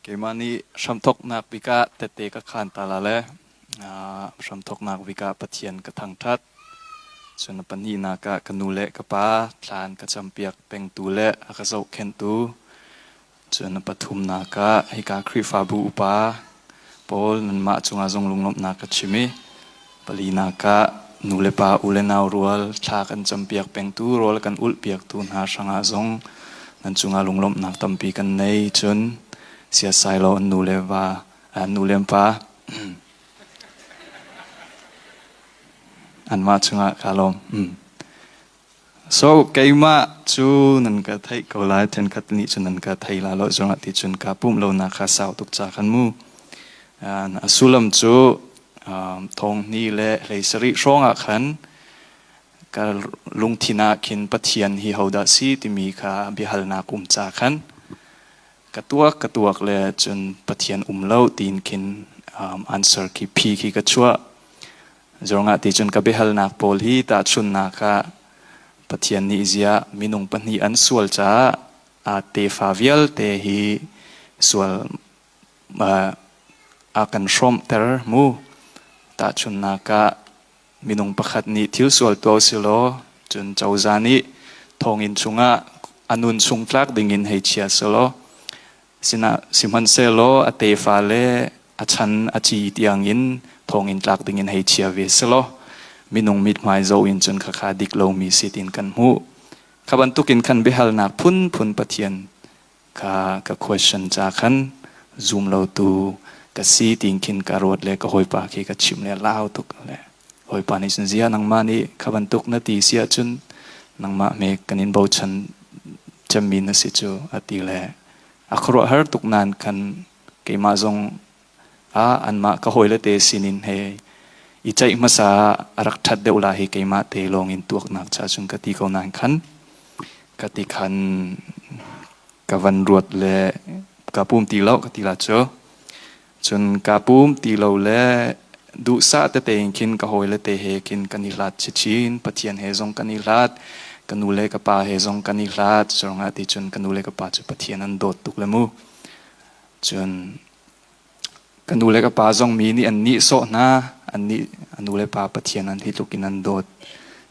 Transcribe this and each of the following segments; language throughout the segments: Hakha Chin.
Keimah nih hramthawknak bik ah tete ka khaan ta la le hramthawknak bik ah Pathian ka thangṭhat. Cun a pahnihnak ah ka nu le ka pa thlan ka campiak pengtu le a ka zohkhenhtu. Cun a pathumnak ah hika Khrihfabu upa Paul nanmah cungah zung lunglawmhnak ka chim i palinak ah nulepa u le nau rual thla kan campiak pengtu rawl kan ulhpiaktu hna hrangah zong nan cungah lunglawmhnak tampi kan nei cun siasai law an nu le va an nu le pa anmah cungah kaa lawm. Mm. So keimah cu nan ka theih ko lai thenkhat nih cun nan ka thei la lo zongah ti cun ka pumh lonak kha sau tuk ca kan mu. A sullam cu thonghni le hlei sarih hrawngah khan ka lungthin ah khin Pathian hi hodah si timi kha biahalnak um ca khan ka tuak ka tuak le cun Pathian um lo tiin khin answer khi phi khi ka chuah Zawngah ti cun ka biahalnak pawl hi tahchunhnak ah Pathian nih ziah minung pahnih an sual caah aa tefa vialte hi sual uh, a kan hrawmhter mu tahchunhnak ah minung pakhat nih thil sual tuah silaw cun cozah nih thonginn chungah a nun chung tlak dingin hei chia selaw sinah sihmanhsehlaw a tefa le a chan a ci tiangin thonginn tlak dingin hei chia ve selaw minung mithmai zo in cun khakha dik lomi si tin kan hmuh kha bantukin khan biahalnak phunphun pathian ka ka question cha khan zum lo tu ka si tin khin ka ruat le ka hoipa khi ka chim le lau tuk le Bawipa nih cun zia nangmah nih kha bantuk na ti si ahcun nangmah me kan in bochan cemmi na si cu a ti le a khuaruahhar tuk nain khan keimah zong ah anmah ka hawile te sinin he i ceih hmasa ah a rak ṭhat deuh la hi keimah te lawng in tuaknak cha cun ka ti ko nain khan ka ti khan ka van ruat le ka pum ti lo ka ti la cu Cun kaa pum ti lo le duhsah tete in khin ka hawile te he khin kan i hlat chin. Pathian he zong kan i hlat. Ka nu le ka pa he zong kan i hlat. Cucungah ti cun ka nu le ka pa cu Pathian an dawt tuk le mu. Cun ka nu le ka pa zong mi nih an nihsawh hna. An nih a nu le pa Pathian an hi tluk in an dawt.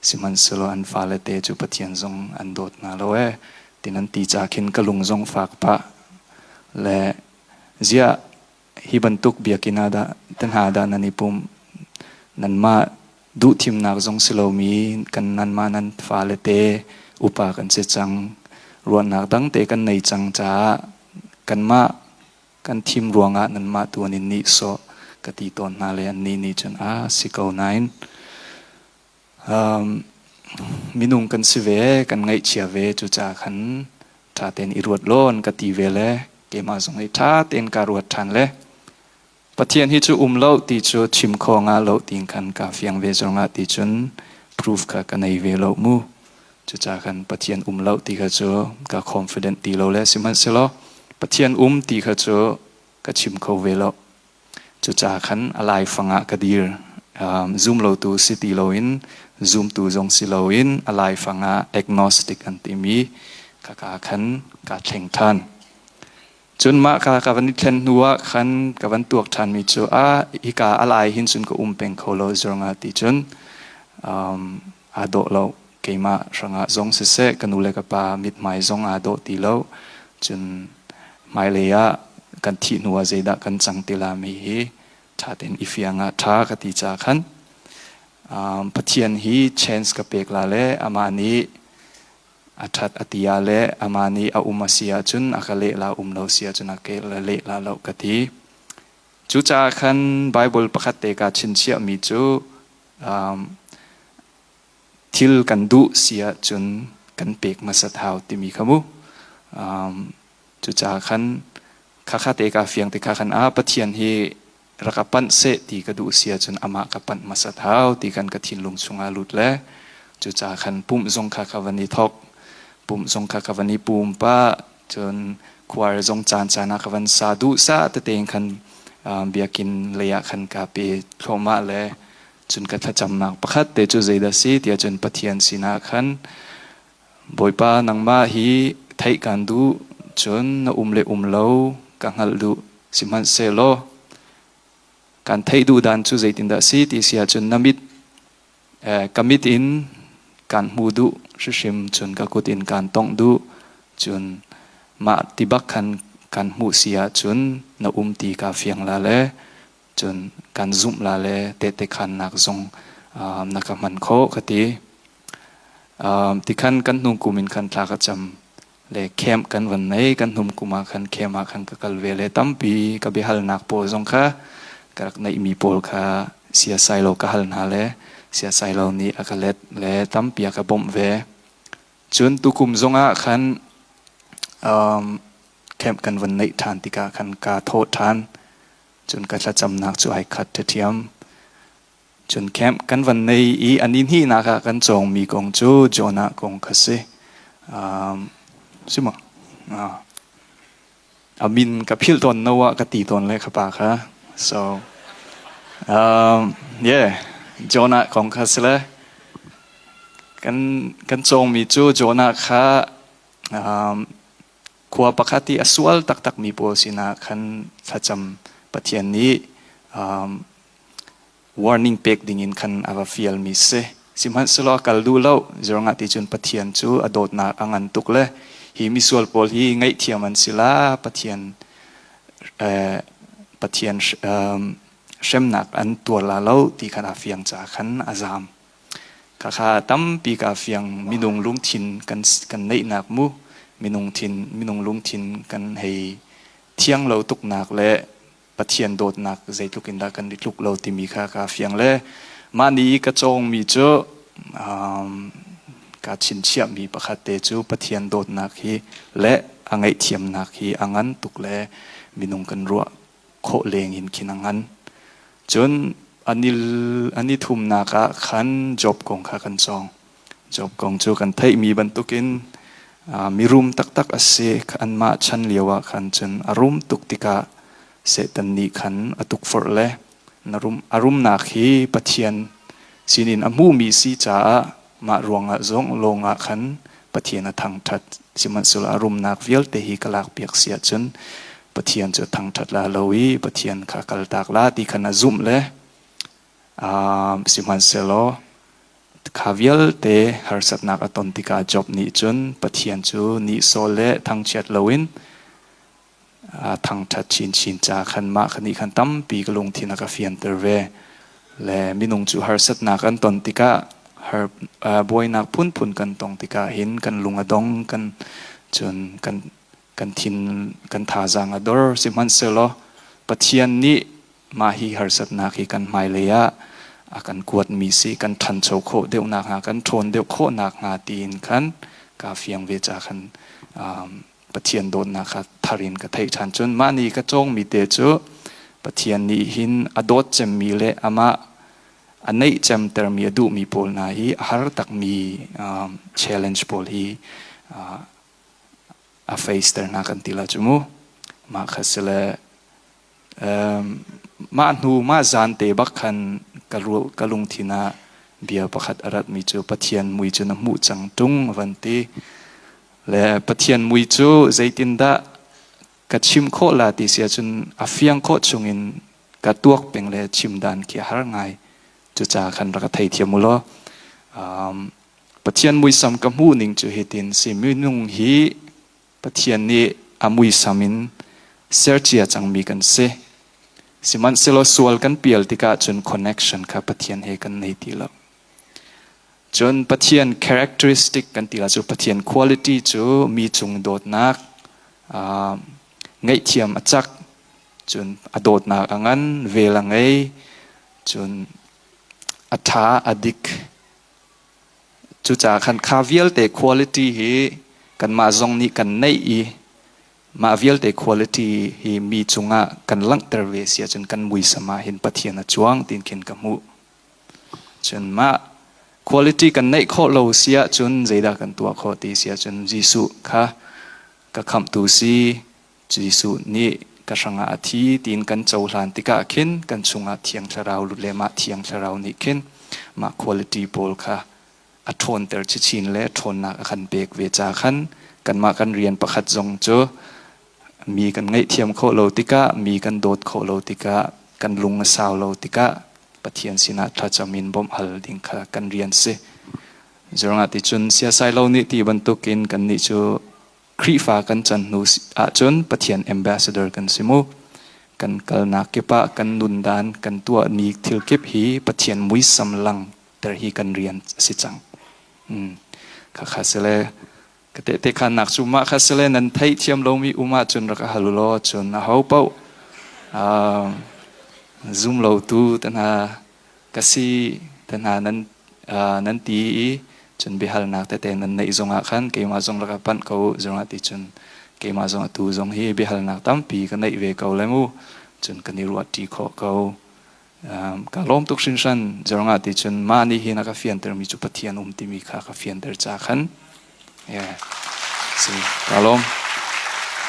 Sihmanhsehlaw an fale te cu Pathian zong an dawt hna lo ee. Tin an ti ca khin ka lung zong fak pah le ziah hi bantuk biakinn ah dah te hna dah nan i pum nanmah duhthimnak zong si lomi kan nanmah nan fale te upa kan si cang ruahnak dang te kan nei cang caah kanmah kan thim ruangah nanmah tu an in nih sawh ka ti tawn hna le an ni nih cun a ah si ko nain minung kan si ve kan ngaihchia ve cucaah khan ṭha tein i ruat law an ka ti ve le keimah zong i ṭha tein ka ruat ṭhan le Pathian hi cu um lo ti cu chim kho nga lo ti khan ka fiang ve zongah ti cun proof kha ka nei ve lo mu cucaah khan Pathian um lo ti kha cu ka confident ti lo le sihmanhsehlaw Pathian um ti kha cu ka chim kho ve lo Cucaah khan a laifang ah ka dir. Zum lotu si ti loin zumtu zong si loin a laifang ah agnostic an timi kaka khan kaa thleng ṭhan. Cun mah ka ka van i thlen hnuah khan ka van tuak ṭhanmi cu a hika a lai hin cun ka um peng kho lo zurngah ti cun um, Aa dawh lo. Keimah hrangah zong siseh, ka nu le ka pa mithmai zong aa dawh ti lo. Cun hmailei ah kan thih hnuah zeidah kan cang ti lami hi ṭha tein i fiang ah ṭha ka ti caah khan Pathian hi chance ka pek la le amah nih a ṭhat a ti ah le amah nih a um a si ahcun a ka leh la um lo si ahcun a ka leh la lo ka ti. Cucaah khan Baibal pakhat te kaa chinchiahmi cu thil kan duh si ahcun kan pek hmasat hau timi kha mu. Cucaah khan khakha te ka fiang te kha khan ah Pathian hi rak a panh seh ti ka duh si ahcun amah ka panh hmasat hau ti kan ka thinlung chungah lut le cucaah khan pumh zong kha ka van i thok pumh zong kha ka van i pum pa cun kuar zong caan caan ah ka van sa duh sa tete khan biakin lei ah khan ka pe thloma le cun ka thlacamnak pakhat te cu zeidah si tiah cun pathian sinah khan bawipa nangmah hi theih kan duh cun na um le um lo ka hngalh duh sihmanhsehlaw kan theih duh dan cu zeitindah si ti si ahcun na mit ka mit in kaan hmu duh hrim cun ka kut in kaan tongh duh cun mah ti bak khan kan hmuh si ahcun na um ti kaa fiang la le cun kan zumh la le tehte khannak zong na ka hman khawh ka ti tikhan kan hnung kum in khan thla ka cam le camp kan van nei kan hnum kuma khan camp ah khan ka kal ve le tampi ka biahalnak pawl zong kha ka rak neihmi pawl kha siasailo ka hal hna le siasailo nih a ka let le tampi a ka bawmh ve cun tukum zongah khan um, camp kan van neih ṭhan tikah khan ka thawh ṭhan cun ka thlacamnak cu ai khat ṭhethiam Cun camp kan van nei i a ni hnihnak ah kan cawngmi kong cu Jonah kong kha si. Um, si maw? Uh, a min ka philh tawn no ah ka ti tawn le ka pa kha. So, um, yeah, Jonah kong kha si le. Kan, kan cawngmi cu Jonah kha um, khua pakhat i a sual taktakmi pawl sinah khan thlacam Pathian nih um, warning pek dingin khan a va fialmi si sihmanhsehlaw kal duh lo zirngah ti cun Pathian cu a dawtnak a ngan tuk le hi misual pawl hi ngaihthiam an si la Pathian eh, Pathian um, hremnak an tuar la lo ti khan a fiang ca khan a zaam Khakha tampi ka fiang minung lungthin kan kan neihnak mu minung thin minung lungthin kan hei thiang lo tuknak le Pathian dawtnak zeitluk in dah kan i tluk lo timi kha ka fiang le mah ni ka cawngmi cu um, ka chinchiahmi pakhat te cu Pathian dawtnak hi le a ngaihthiamnak hi a ngan tuk le minung kan ruah khawh leng in khin a ngan. Cun an i thumnak ah khan Job kong kha kan cawng. Job kong cu kan theihmi bantukin mirum taktak a si. Anmah chan lioah khan cun a rum tuk tikah Satan nih khan a tukforh le a rumnak hi Pathian sinin a hmumi si caah Mah ruangah zong lawng ah khan Pathian a thangṭhat, sihmanhsehlaw a rumnak vialte hi ka lakpiak si ahcun Pathian cu a thangṭhat la lo i Pathian kha kaltak la ti kha na zumh le sihmanhsehlaw kha vialte harsatnak a ton tikah Job nih cun Pathian cu nihsawh le thangchiat loin thangṭhat chinchin ca khan mah ka nih khan tampi ka lungthin a ka fianter ve. Le minung cu harsatnak an ton tikah har buainak phunphun kan tong tikah hin kan lung a dong kan cun kan kan thin kan thazaang a dor sihmanhsehlaw Pathian nih mah hi harsatnak hi kan hmailei ah a kan kuatmi si kan ṭhancho khawh deuh nakhnga kan ṭhawn deuh khawh nakhnga tiin khan kaa fiang ve ca khan Pathian dawtnak kha thar in ka theih ṭhan cun mah nih ka cawngmi te cu Pathian nih hin a dawt cemmi le amah a neih cemtermi a duhmi pawl hna hi a har takmi um, challenge pawl hi uh, a face ter hna kan ti la cu mu mah kha si le Mah hnu mah zaan te bak khan ka lungthin ah bia pakhat a ratmi cu Pathian mui cu na hmuh cang ṭung a van ti. Le Pathian mui cu zeitindah ka chim khawh la ti si ahcun a fiang khawh chungin ka tuak peng le chimdan khi a har ngai. Cucaah khan rak ka theithiam u law Pathian muisam ka hmuh ning cu hitin si, minung hi Pathian nih a muisam in sercia cangmi kan si. Sihmanhsehlaw sual kan pial tikah cun connection kha Pathian he kan nei ti lo. Cun Pathian characteristic kan ti lo cu Pathian quality cu mi cung dawtnak, uh, ngaihthiam a cak, cun a dawtnak a ngan, vel a ngei, cun a tha, a dik, Cucaah khan kha vialte quality hi kanmah zong nih kan neih i mah vialte quality hi mi cungah kan langhter ve si ahcun kan muisam ah hin Pathian a cuang tiin khin ka hmuh. Cun mah quality kan neih khawh lo si ahcun zeidah kan tuah khawh ti si ahcun Jesuh kha ka khamhtu si Jesuh nih ka hrangah a thi tiin kan cohlan tikah khin kan chungah thiang thlarau lut le mah thiang thlarau nih khin mah quality pawl kha a ṭhawnter cichin le ṭhawnnak a kan pek ve ca khan kanmah kan rian pakhat zong cu mi kan ngaihthiam khawh lo tikah mi kan dawt khawh lo tikah kan lung a sau lo tikah Pathian sinah thlacam in bawmh hal ding kha kan rian si. Zerngah ti cun siasai lo nih ti bantukin kannih cu Khrihfa kan can hnu ahcun Pathian ambassador kan si mu. Kan kalnak kip ah kan nundan kan tuahmi thil kip hi Pathian muisam langhter hi kan rian a si cang. Khakha sile ka tehte khannak cu mah kha sile nan theihthiam lomi um ahcun rak hal ulaw cun a ho paoh zoom lo tu te hna ka si te hna nan nan ti i cun biahalnak tete nan neih zongah khan keimah zong rak panh ko u zongah ti cun keimah zongah tu zong hi biahalnak tampi ka neih ve ko le mu cun kan i ruahṭi khawh ko ka lawm tuk hrinhran zongah ti cun mah nih hin a ka fiantermi cu Pathian um timi kha ka fianter ca khan Yeah. Si kalom.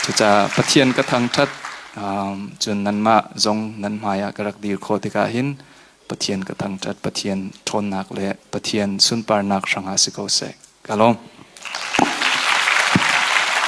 Cuca Pathian ka thangthat um, cun nanmah zong nan hmaiah ka rak dir kho tikah hin Pathian ka thangthat Pathian ṭhawnnak le Pathian sunparnak hrangah si ko seh. Kalom.